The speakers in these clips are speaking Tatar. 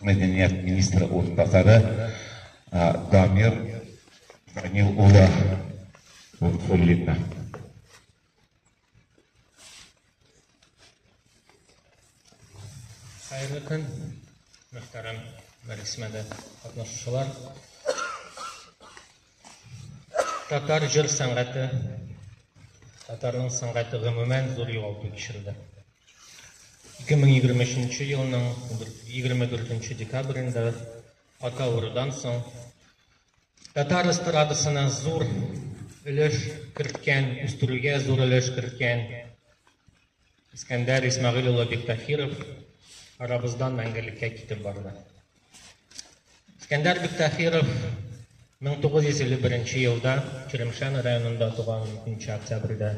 мәдәният министры урынбасары Дамир Данил улы Фуллинны. Хәерле көн, мөхтәрәм Мәрисмәдә катнашучылар. Татар җыр сәнгате, татарның сәнгате гомумән зур югалту кичерде. 2023 елның 24 декабрендә ата урыдан соң татар эстрадасына зур өлеш керткән, үстерүгә зур өлеш керткән Искәндәр Исмәгыйль улы Биктаһиров арабыздан мәңгелеккә китеп барды. Искәндәр Биктаһиров 1951 елда Черемшән районында туган 2 октябрьдә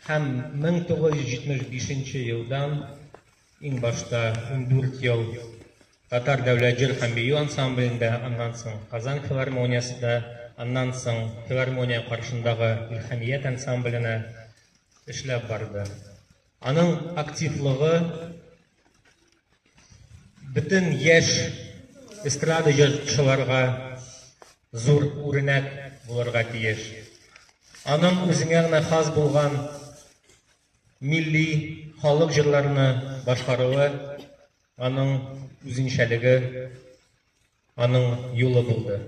һәм 1975 елдан иң башта 14 ел Татар дәүләт җыр һәм бию ансамблендә, аннан соң Казан филармониясендә, аннан соң филармония каршындагы Илхәмият ансамбленә эшләп барды. Аның активлыгы бөтен яшь эстрада җырчыларга зур үрнәк булырга тиеш. Аның үзенә генә хас булган милли халык җырларны башкаруы аның үзенчәлеге аның юлы булды.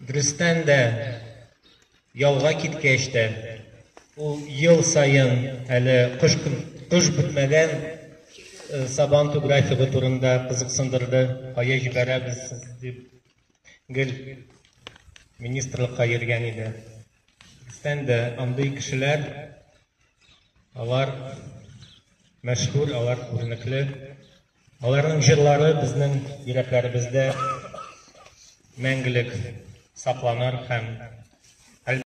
Дөрестән дә, ялга киткәч тә, ул ел саен әле кыш, кыш бетмәгән э, сабан ту графигы турында кызыксындырды, кая җибәрәбез дип гел министрлыкка йөргән иде. Дөрестән дә, андый кешеләр, алар мәшһүр, алар күренекле. Аларның җырлары безнең йөрәкләребездә мәңгелек сакланыр һәм